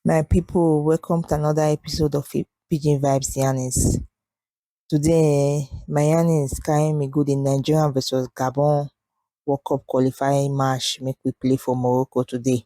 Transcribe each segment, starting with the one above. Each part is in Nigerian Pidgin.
My people, welcome to another episode of Pidgin Vibes Yanis. Today, my Yanis carrying me good in Nigeria versus Gabon World Cup qualifying match make we play for Morocco today.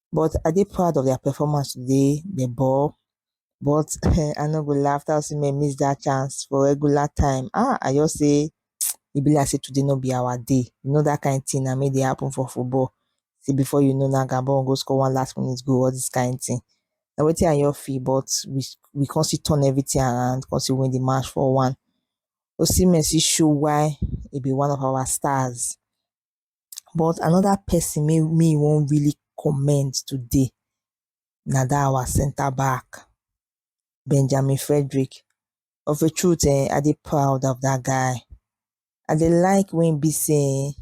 but I dey proud of their performance today. They ball, but I no go laugh. That was may miss that chance for regular time. Ah, I just say it be like say today no be our day. You know that kind of thing. I made it happen for football. See before you know now, Gabon go score one last minute goal. All this kind of thing. Now waiting on your fee, but we we can't see turn everything around. Can't see win the match for one. Osimhen see show why he be one of our stars. but another person wey me wan really commend today na that our centre back Benjamin Frederick of a truth um I dey proud of that guy I dey like when e be sey um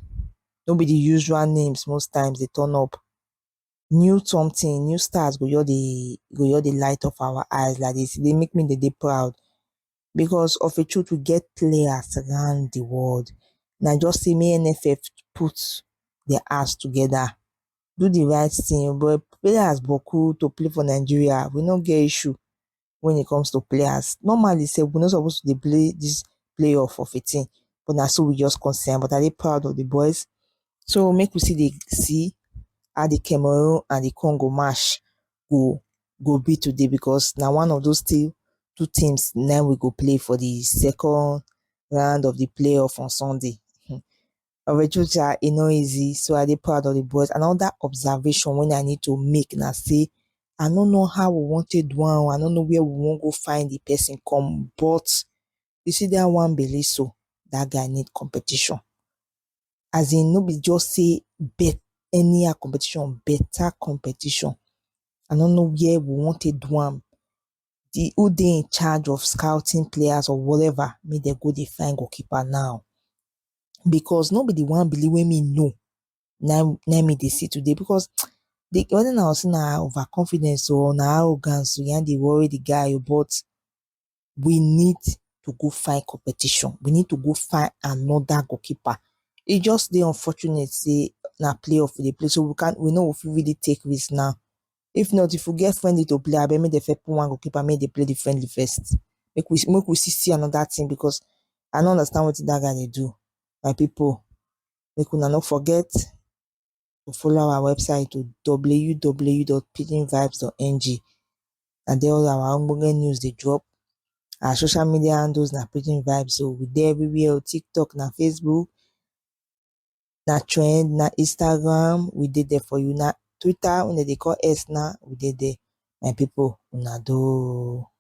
no be the usual names most times dey turn up new something new stars go just dey go just dey light up our eyes like this e dey make me dey dey proud because of a truth we get players around the world na just say make nff put their ass together do the right thing but players boku to play for nigeria we no get issue when it comes to players normally say we no suppose to dey play this playoff of a thing but na so we just concern but i dey proud of the boys so make we see dey see how the cameroon and the congo match go go be today because na one of those team two teams na im we go play for the second round of the playoff on Sunday. Orejuja, e no easy, so I dey proud of the boys. Another observation wey I need to make na say I no know how we wan take do am, I no know where we wan go find the person come, but You see dat one belle so, dat guy need competition as in no be just sey bet anyhow competition, better competition. I no know where we wan take do am, de who dey in charge of scouting players or whatever make dem go dey find goal keeper now because no be de Nwabali wey me know na im na im me dey see today because de whether na Osuna na over confidence oo or na arrogance na im dey worry de guy oo but we need to go find competition. We need to go find another goalkeeper. It just the unfortunate say na playoff we dey play, so we can't we know if we really take risk now. If not, if we get friendly to play, I bet me the first one goalkeeper make they play the friendly first. Make we make we see, see another thing because I don't understand what that guy they do. My people, make we not forget or follow our website to www.pidginvibes.ng na there all our ogbonge news dey drop. Our social media handles na Pidgin Vibes so we dey everywhere o TikTok na Facebook na trend na Instagram we dey there for you na Twitter wey dem dey call X now we dey there my people una do o.